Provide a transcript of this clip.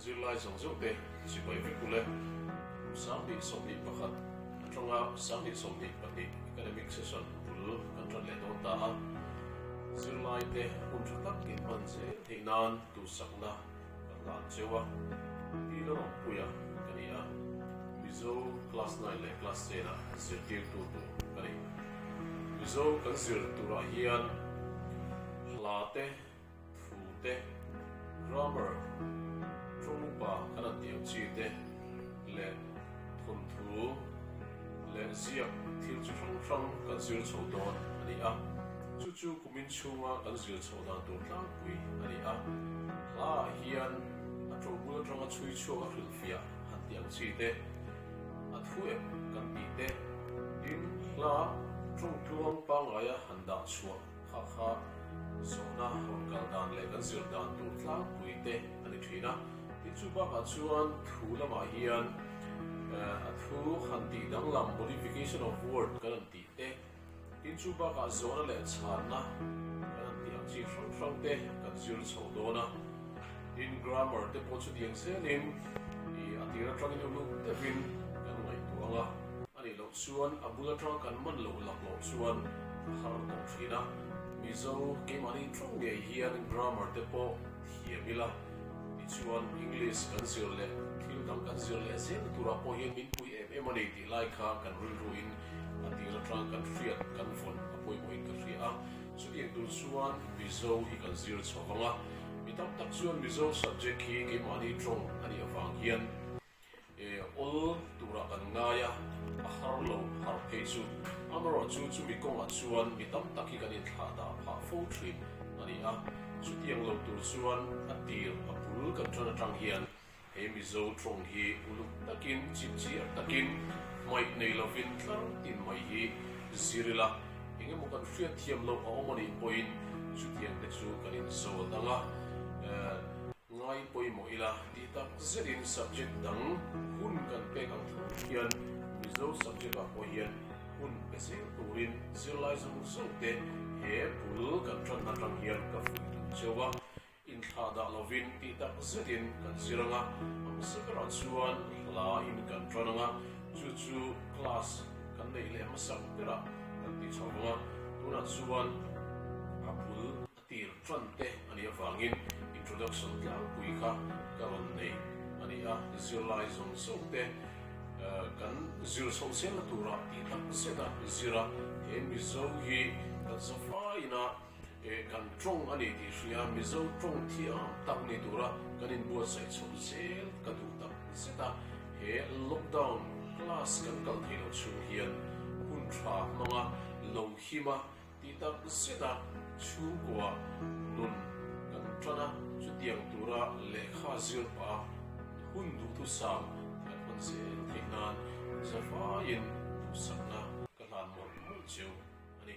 Zirlai zawng zawng te Sipai vek u le. Sanghnih sawmhnih pakhat atanga Sanghnih sawmhnih pahnih Academic Session bul kan ṭan leh dawn ta a. Zirlai te hun ṭha tak inhman zel theih nan duhsakna ka nghal cheu a. Pi la rawn puia ka ni a. Mizo Class Nine leh Class Ten a zirtirtu tur ka ni. Mizo kan zir turah hian hla te Thu te, grammar, ṭawngpa kan a tih ang chi te leh thawnthu leh ziak thil chi hrang hrang kan zir chhoh dawn a ni a. Chu chu kumin chhunga kan zir chhoh dan tur tlangpui a ni a. Hla ah hian a ṭo bul aṭanga chhui chhuak a hrilhfiah han tih ang chi te, a thu ep kan tih te, tin hla ṭawng tluang pangngaia han dah chhuah, Hakha zawhna rawn kal dan leh kan zir dan tur tlangpui te a ni thin a, tin chu bakah chuan thu lamah hian a thu han tih danglam modification of word kan han tih te, tin chu bakah zawhna leh chhanna kan han tih ang chi hrang hrang te kan zir chho dawn a, tin grammar te pawh chu diang zelin ih a tir atangin uluk deuhin kan ngaihtuah ang a. A nih loh chuan a bul atang kan man lo lak loh chuan a har tawh thin a. Mizo keimahni ṭawng ngei hian grammar te pawh thiam ila. Ni chuan English kan zir leh thil dang kan zir leh zel turah pawh hian min pui em em a ni tih lai kha kan rilruin a tir atang kan hriat kan vawn a pawimawhin ka hria a. Chutiang tur chuan Mizo hi kan zir chho vang a. Mi tam tak chuan Mizo subject hi keimahni ṭawng a nih avang hian. E awl tura kan ngai a, a har lo har phei chu. Amarawh chu chumi kawngah chuan mi tam tak hi kan inthlah dah phah fo thin a ni a. Chutiang lo tur chuan a tir a bul kan tan atang hian he Mizo tawng hi uluk takin chitchiar takin hmaih nei lovin tlar tin mai hi zir ila, engemaw kan hriat thiam loh a awm a nih pawhin chutiang te chu kan inzawl dang a. Ngai pawimawh ila ti tak zet in subject dang hun kan pek ang thu hian Mizo subject ah pawh hian hun pe zir tur in zirlai zawng zawng te he bul kan tan atang hian ka vui tum cheu a, inthlah dah lo in ti tak zet in kan zir ang a, ang zia ber ah chuan hla in kan tan ang a, chu chu class kan neih leh hmasak ber ah kan ti chho vang a, tunah chuan a bul Tir tan te a nih avangin introduction tlangpui kha ka rawn nei a ni a, zirlai zawng zawng te kan zir chho zel na tura ti tak zet a zir a, he Mizo hi kan zavai ina kan tawng a ni tih hria Mizo tawng thiam tak ni tura kan inbuatsaih chho zel ka duh tak zet a, he lockdown class kan kal theih lo chhung hian hun tha hmanga Lohima Ti tak zet a, chhungkua nun kan tan a, chutiang tura lehkha zir pah a hun duh thu sam kan hawn che reng theih nan zavaiin thusakna ka hlan mawlh mawlh cheu a ni.